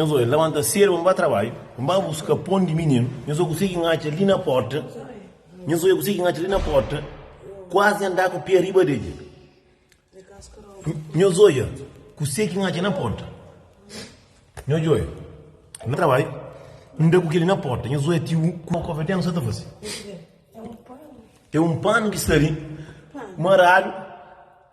Nhos oi, labanta sedu pa N ba trabadju, N ba buska pon di mininu. Nhos oi kuse ki N atxa li na porta, Nhos oi, kuse ki N atxa li na porta, kuazi andá ku pia riba degli. Nhos oia, kuse ki N atxa na porta, Nhos oi, N ba trabadju, N da ku keli na porta, Nhos oi, ti un ku kofetenu sa ta fasi. E un panu ki sta li maradu.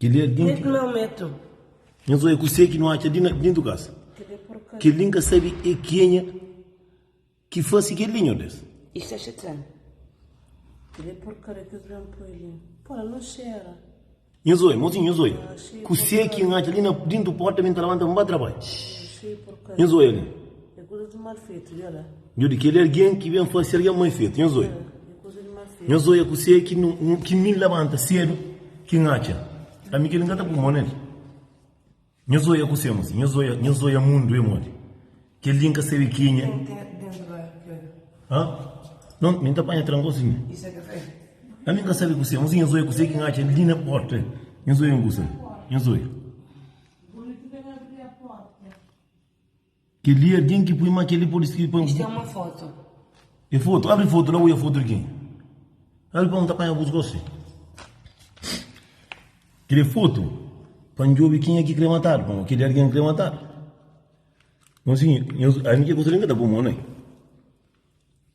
Kel-li é algen ki nhos odja ku se ki nu atxa li na déntu kasa. Kel-li N ka sabe é kenha ki fase kel-li, nhos Deus. Nhos odja, mozinhu, nhos odja ku se ki N atxa li na déntu pórta, mi N ta labanta, N ba trabadja. Nhos odja li. Nho di kel algen ki ben fase algen mal fetu. Nho zoia. Nho zoia ku se ki mi N labanta sedu ki N atxa. Ami kel-li N ka ta pui mô na li. Nho zoia ku se. Masi nho zoia, nho zoia mundu e modi. Kel-li N ka sabe ki nha. Ken ki ten ki ten ki bai ku el? Ha? Non, mi N ta panha trankon siña. I se kafé? Ami N ka sabe ku se. Masi nho zoia ku se ki N atxa li na porta. Nho zoia N ku se. Nho zoia. Bonitu ben abri a porta. Kel-li é algen ki poi má kel-li pode skirbe pa. Este é uma foto. É foto? Abri foto la, ui é foto di ken? Abri pa N ta panha bus gósi. Kel-li é foto pa N djobe kenha ki krê matadu pamodi kel-li é algen ki krê matadu. Nhos, nhos, ami ki é kuzê li N ka ta poi mô nel.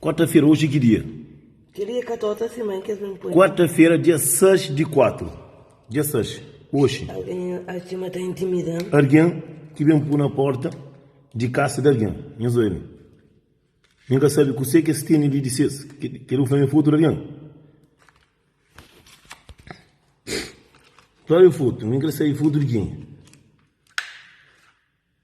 Quarta-fera, oji ki dia? Kel-li é ka ta otra siman ki es ben poi. Quarta-fera, dia 6 di kuatru. Dia 6, oxi. Algen a txima ta intimida-m. Algen ki ben pui na porta di kasa di algen. Nhos bai li. Mi ka sabe kuse ki es tene li di ses. Kel li bu fla-m é fotu di algen? Klór é fotu. Mi krê sabe fotu di kenha.